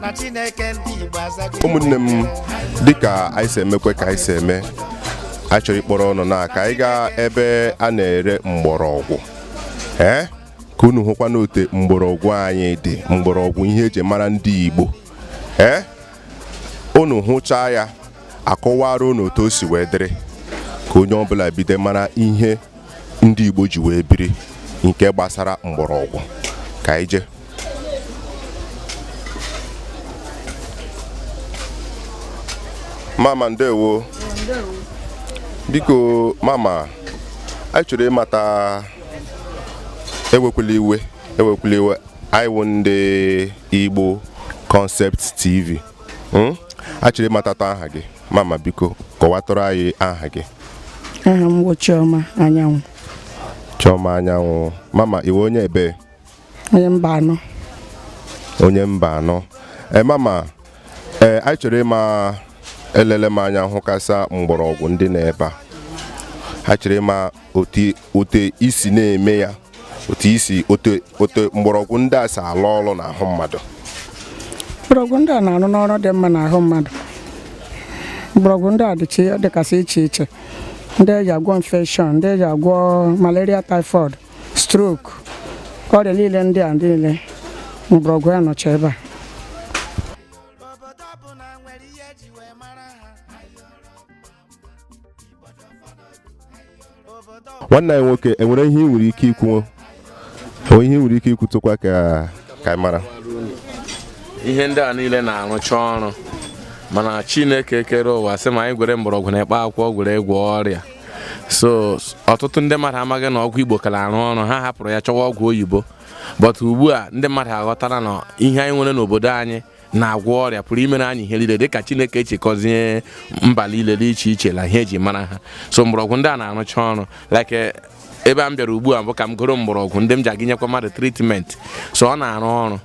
na chineke ndị igbo azago ụmụnne m dịka anyị si emekwe ka anyị si eme anyị chọrọ ịkpọrọ unu na ka anyị gaa ebe a na-ere mgbọrọgwụ ee ka unu hụkwanụ otu mgbọrọgwụ anyị dị mgbọrọgwụ ihe eji mara ndị igbo ee unu hụchaa ya a kọwaara unu otu o si wee dịrị ka onye ọbụla bido mara ihe ndị Igbo ji wee biri nke gbasara mgbọrọgwụ ka anyị jee mama ndewo biko mama anyị chọrọ ịmata ewekwala iwe ewekwala iwe anyị wụ ndị Igbo Concept TV hmm? anyị chọrọ ịmatatụ aha gị mama biko kọwatụrụ anyị aha gị aha m bụ Chioma Anyanwụ Chioma Anyanwụ mama ị wụ onye ebee onye Mbanọ onye Mbanọ ee eh, mama ee eh, anyị chọrọ ịma elele m anya hụkasịa mgbọrọgwụ ndị nọ ebe a anyị chọrọ ịma otu i si na-eme ya otu i si otu mgbọrọgwụ ndị a si alụ ọrụ n'ahụ mmadụ mgbọrọgwụ ndị a na-arụnụ ọrụ dị mma n'ahụ mmadụ mgbọrọgwụ ndị a dịkasị iche iche ndị eji agwọ infection ndị eji agwọ malaria typhoid stroke ọrịa niile ndị a niile mgbọrọgwụ ya nọcha ebe a nwanne anyị nwoke enwere ihe ị nwere ike ikwu o nwere ihe ị nwere ike ikwutụkwa ka ka mara ihe ndị a niile na-arụcha ọrụ mana chineke kere ụwa sị ma anyị gwere mgbọrọgwụ na mkpa akwụkwọ gwere gwọọ ọrịa so ọtụtụ ndị mmadụ amaghị na ọgwụ igbo kara arụ ọrụ ha hapụrụ ya chọwa ọgwụ oyibo but ugbu a ndị mmadụ aghọtara na ihe anyị nwere n'obodo anyị na-agwọ ọrịa pụrụ imere anyị ihe niile dịka chineke ji gọzie mba niile dị iche iche na ihe eji mara ha so mgbọrọgwụ ndị a na-arụcha ọrụ like eh, ebe a m bịara ugbu a bụ ka m goro mgbọrọgwụ ndị m ji aga inyekwa mmadụ treatment so ọ na-arụ ọrụ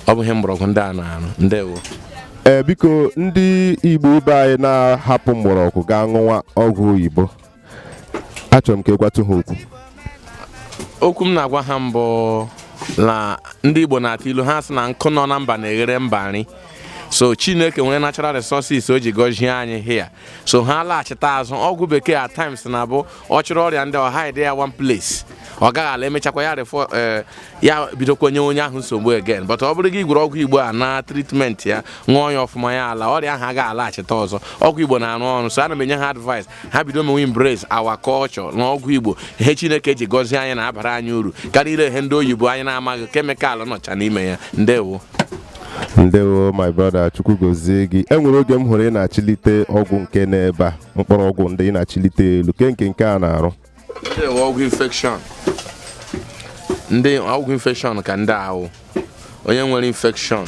ọ bụ ihe mgbọrọgwụ ndị a na-arụ ndewo ee eh, biko ndị igbo ibe anyị na-ahapụ mgbọrọgwụ gaa ṅụwa ọgwụ oyibo achọrọ m ka ị gwatụ ha okwu okwu m na-agwa ha mbụ na ndị Igbo na-atụ ilu ha sị na nkụ nọ na mba na-eghere mba nri so chineke nwere natural resources o ji gọzie anyị here so ha laghachita azụ ọgwụ bekee at times na-abụ ọ chịrị ọrịa ndị ahụ hide ya one place ọ gaghị ala emechakwa ya refọ eh, ya bidokwa nye onye ahụ nsogbu again but ọ bụrụ gị gwere ọgwụ igbo a na treatment ya ṅụọ ya ọfụma ya ala ọrịa ahụ agaghị alaghachita ọzọ ọgwụ igbo na-arụ ọrụ so ana m enye ha advice ha bido mewe embrace our culture na ọgwụ igbo ihe chineke ji gọzie anyị na-abara anyị uru karịa iri ihe ndị oyibo anyị na-amaghị kemịkalụ nọcha n'ime ya ndewo ndewo my brother chukwu gọzie gị e nwere oge m hụrụ ị na-achịlite ọgwụ nke n'ebe a mkpọrọgwụ ndị ị na-achịlite elu kee nke nke a na-arụ ọgwụ infekshọn ndị ọgwụ infekshọn ka ndị a wụ onye nwere infekshọn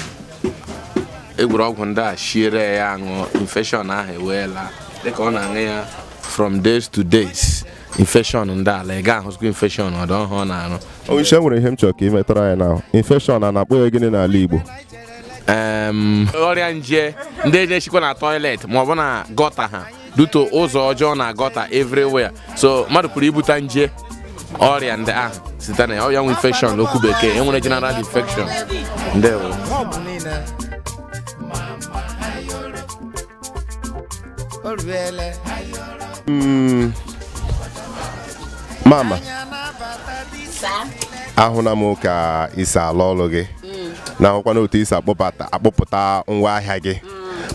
egwuru ọgwụ ndị a shiere ya aṅụ infekshọn ahụ eweela dịka ọ na-aṅụ ya from days to days infekshọn ndị alaa ị ga-ahụzikwa infekshọn ọdọ ọ wụ ihe ọ na-arụ onyeisi enwere ihe m chọrọ ka ị metara anyị na infekshọn a na-akpọ ya gịnị n'ala Igbo ọrịa nje ndị na-esikwa na tọilet maọbụ na gọta ha duto ụzọ ọjọọ na gọta everywhere so mmadụ pụrụ ibute nje ọrịa ndị ahụ site na ya ọrịa nwe infection n'okwu bekee enwere general infection ndewo Mm. mama ahụla m ka i si arụ ọrụ gị na ahụkwana otu i si akpọpụta akpọpụta ngwa ahịa gị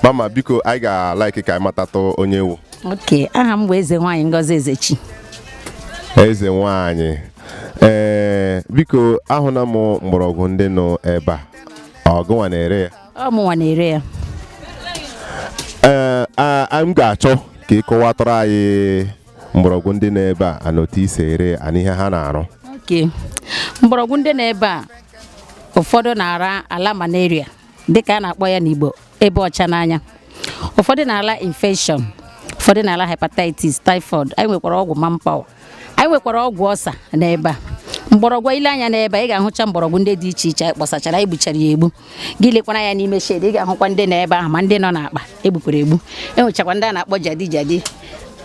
mama biko anyị ga-alaiki ka anyị matatụ onye ị wụ okay aha m bụ eze nwaanyị ngozi ezechi eze nwaanyị ee biko ahụna m mgbọrọgwụ ndị nọ ebe a ọ gịnwa na-ere ya ọ mụnwa na-ere ya ee a- a- m ga-achọ ka ị kọwatụrụ anyị mgbọrọgwụ ndị nọ ebe a na otu i si ere ya na ihe ha na-arụ okay mgbọrọgwụ ndị nọ ebe a ụfọdụ na-ara ala malaria dịka a na-akpọ ya n'Igbo ịba ọcha n'anya ụfọdụ na-ala infection ụfọdụ na-ala hepatitis typhoid anyị nwekwara ọgwụ manpower anyị nwekwara ọgwụ ulcer n'ebe a mgbọrọgwụ i lee anya n'ebe ị ga-ahụcha mgbọrọgwụ ndị dị iche iche anyị kpọsachara anyị gbuchara ya egbu gị lekwara anya n'ime shed ị ga-ahụkwa ndị nọ ebe ahụ ma ndị nọ n'akpa egbupụrụ egbu enwechakwa ndị a na-akpọ jadi jadi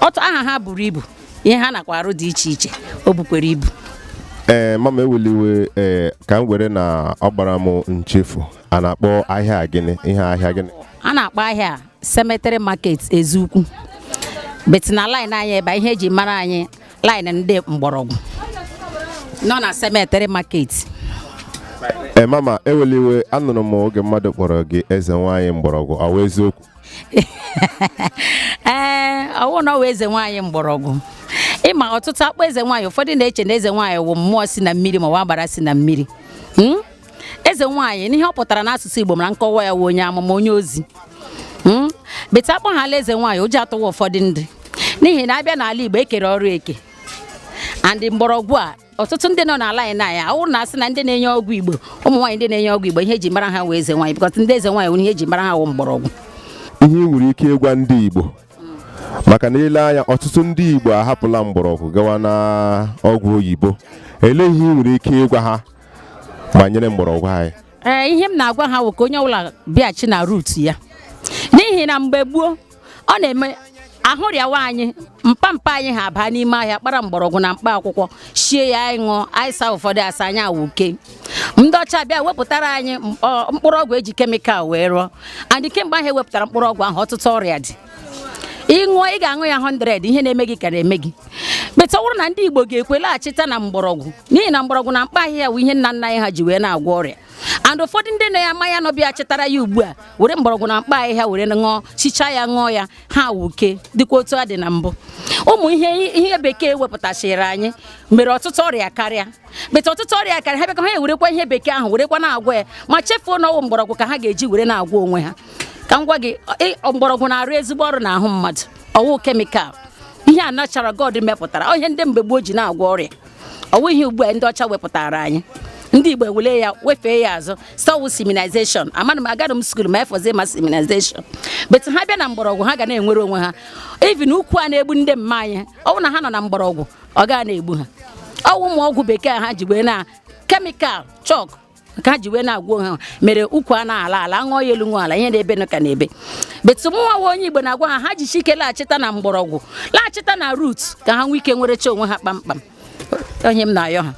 ọtụ aha ha buru ibu ihe ha nakwa arụ dị iche iche o bukwere ibu ee mama ewela iwe ee ka m were na ọ gbara m nchefu a na-akpọ ahịa a gịnị ihe ahịa gịnị a na-akpọ ahịa a cemetery market eziukwu but na line anyị ebe a, ihe eji mara anyị line ndị mgbọrọgwụ nọ na cemetery market ee mama ewela iwe anụrụ m oge mmadụ kpọrọ gị eze nwaanyị mgbọrọgwụ ọ wụ eziokwu ee eh, ọ wụ mụnwa wụ eze nwaanyị mgbọrọgwụ ị ma ọtụtụ a kpọọ eze nwaanyị ụfọdụ na-eche na eze nwaanyị wụ mmụọ si na mmiri ma ọ wụ agbara si na mmiri hmm? eze nwaanyị n'ihe ọ pụtara n'asụsụ Igbo mara nkọwa ya wụ onye amụma onye ozi hmm? but a kpọhala eze nwaanyị ụjọ atụwa ụfọdụ ndị n'ihi na a bịa n'ala Igbo e kere ọrụ eke andị mgbọrọgwụ a ọtụtụ ndị nọ n'ala anyị na-aya awụ na asị na ndị na-enye ọgwụ igbo ụmụ nwaanyị ndị na-enye ọgwụ igbo ihe eji mara ha wụ eze nwaanyị because ndị eze nwaanyị nwere ihe eji mara ha wụ mgbọrọgwụ ihe ị nwere ike ịgwa ndị igbo maka na i lee anya ọtụtụ ndị igbo ahapụla mgbọrọgwụ gawa na ọgwụ oyibo elee ihe ị nwere ike ịgwa ha banyere mgbọrọgwụ anyị ee ihe m na-agwa ha wụ ka onye ọbụla bịaghachi na root ya n'ihi na mgbe gboo ọ na-eme ahụ rịawa anyị mpa mpa anyị ha baa n'ime ọhịa kpara mgbọrọgwụ na mkpa akwụkwọ shie ya anyị ṅụọ anyị saa ụfọdụ asa anyị awuke ndị ọcha bịa wepụtara anyị mkpụrụ ọgwụ eji chemical wee rụọ and kemgbe ahụ ewepụtara mkpụrụ ọgwụ ahụ ọtụtụ ọrịa dị ị ṅụọ ị ga-aṅụ ya 100 ihe na-eme gị ka na-eme gị better na ndị Igbo ga-ekwe laghachita na mgbọrọgwụ n'ihi na mgbọrọgwụ na mkpa ahịhịa bụ ihe nna nna anyị ha ji wee na-agwọ ọrịa and ụfọdụ ndị na ya ama ya nọbịa chetara ya ugbu a were mgbọrọgwụ na mkpa ahịhịa were ṅụọ shichaa ya ṅụọ ya ha wuke dịkwa otu ha dị na mbụ ụmụ ihe ihe bekee wepụtachiri anyị mere ọtụtụ ọrịa karịa but ọtụtụ ọrịa karịa ha bịakọ ha ewerekwa ihe bekee ahụ werekwa na-agwọ ya ma chefuo na ọ wụ mgbọrọgwụ ka ha ga-eji were na-agwọ onwe ha ka m gwa gị mgbọrọgwụ na-arụ ezigbo ọrụ n'ahụ mmadụ ọ wụ chemical ihe a natural God mepụtara ihe ndị mgbe gboo ji na-agwọ ọrịa ọ wụ ihe ugbu a ndị ọcha wepụtara anyị ndị Igbo ewele ya wefee ya azụ sị ọ wụ civilization amana m agaghị m school ma ya fọzie ma civilization but ha bịa na mgbọrọgwụ ha ga na-enwere onwe ha even ukwu a na-egbu ndị mma anyị ọ wụ na ha nọ na mgbọrọgwụ ọ gaghị na-egbu ha ọ wụ ụmụ ọgwụ bekee ha ji wee na chemical chalk ka ha ji wee na-agwọ onwe ha mere ukwu a na-ala ala ṅụọ ya elu ṅụọ ala ihe na-ebe nụ ka na-ebe but mụnwa nwa onye igbo na-agwa ha ha jishie ike laghachita na mgbọrọgwụ laghachita na root ka ha nwee ike nwerecha onwe ha kpamkpam ọ ihe m na-ayọ ha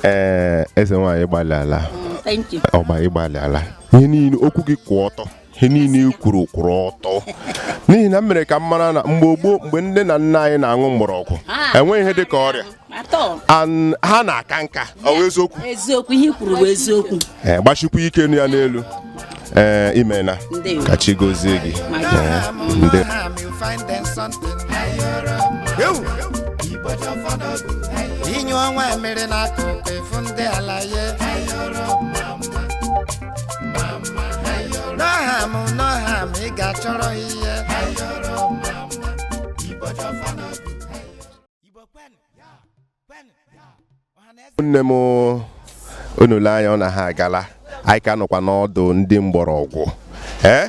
ee eze nwaanyị ị gbalịala ọgba ị gbalịala ihe niile okwu gị kwụ ọtọ ihe niile i kwuru kwụrụ ọtọ n'ihi na m mere ka m mara na mgbe gboo mgbe nne na nna anyị na-aṅụ mgbọrọgwụ ah. enweghị ihe dị ka ọrịa ha na-aka nka ọ wụ eziokwu eziokwu ihe i kwuru bụ eziokwu eh, gbashikwa ike nụ ya n'elu ee eh, imena ka chi gozie gị eh, ndị inyụ ọnwa emere n'akụkụ efu ndị ala ya n'ọha m n'ọha m ị ga-achọrọ ihe nne m unu lee anya ọ na ha agala anyị ka nọkwa n'ọdụ ndị mgbọrọgwụ ee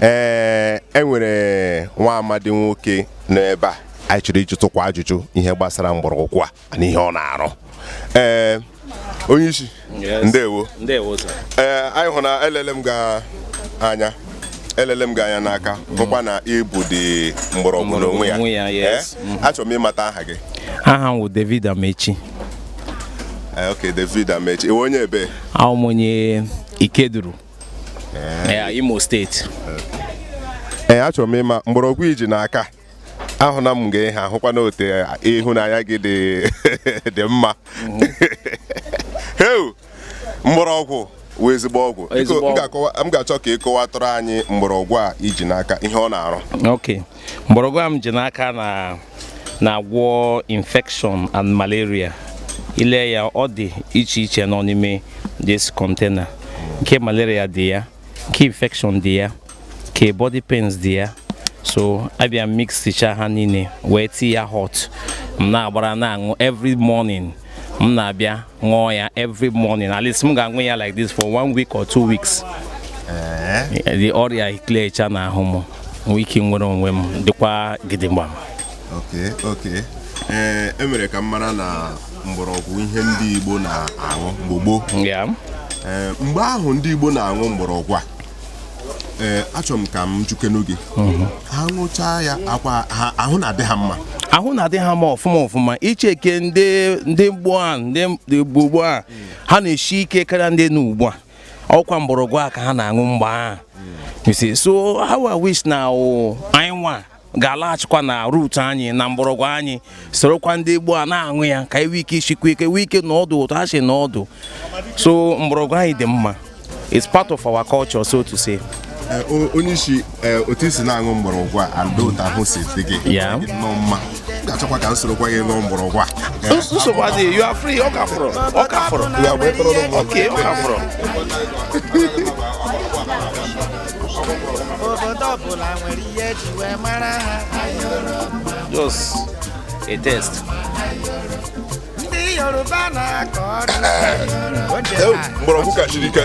ee e nwere nwa amadi nwoke n'ebe a anyị chọrọ ịjụtụkwa ajụjụ ihe gbasara mgbọrọgwụ a na ihe ọ na-arụ ee onye isi ndewo ee anyị hụ na elele m gị anya elele m gị anya n'aka bụkwa na ị bụ di mgbọrọgwụ n'onwe ya eh? mhm. achọrọ m ịmata aha gị aha m wụ David Amechi eh, ok David Amechi ị wụ onye ebee awụ m onye Ikeduru ya Imo steeti ee achọrọ m ịma mgbọrọgwụ i ji n'aka ahụ na m ga-ehe ahụkwa na otu ihu na anya gị dị mma heu mgbọrọgwụ wụ ezigbo ọgwụ m ga-achọ ka ị kọwatụrụ anyị mgbọrọgwụ a i ji n'aka ihe ọ na-arụ mgbọrọgwụ a m ji n'aka na na-agwọ infection and malaria i lee ya ọ dị iche iche nọ n'ime this container nke malaria dị ya nke infection dị ya nke body pains dị ya so a bịa mixicha ha niile wee tii ya hot m na-agbara na-aṅụ every morning m na-abịa ṅụọ ya every morning at least m ga-aṅụ ya like this for one week or two weeks eh? the ọrịa eclearcha n'ahụ m nwee ike nwere onwe m dịkwa gidigba okay okay ee eh, e mere ka m mara na mgbọrọgwụ ihe ndị Igbo na-aṅụ mgbe gboo eh, mgbe ahụ ndị Igbo na-aṅụ mgbọrọgwụ a ee achọrọ m ka m jụkenụ gị mhm. ha ṅụchaa ya ọkwa ahụ na-adị ha mma ahụ na-adị ha mma ọfụma ọfụma i checkie ndị ndị gboo a ndị gboo gboo a ha na-esi ike karịa ndị nọ ugbu a ọkwa mgbọrọgwụ a ka ha na-aṅụ mgbe ahụ so how I wish na anyị nwa ga-alaghachikwa na root anyị na mgbọrọgwụ anyị sorokwa ndị gboo a na-aṅụ ya ka anyị nwee ike isikwa ike nwee ike nọọ ọdụ otu ha si nọọ ọdụ so mgbọrọgwụ anyị dị mma it's part of our culture so to say Eh, onye isi eh, otu i si na-aṅụ mgbọrọgwụ a na otu ahụ si dị gị nnọọ mma m ga-achọkwa ka m sorokwa gị ṅụọ mgbọrọgwụ a eh, nsogbu adịghị you are free ọ ka fọrọ ọ ka fọrọ ọ ka fọrọ obodo ọbụla nwere ihe e ji wee mara ha just a test ndị Yoruba na-akọ ọdụ mgbọrọgwụ ka chiri ike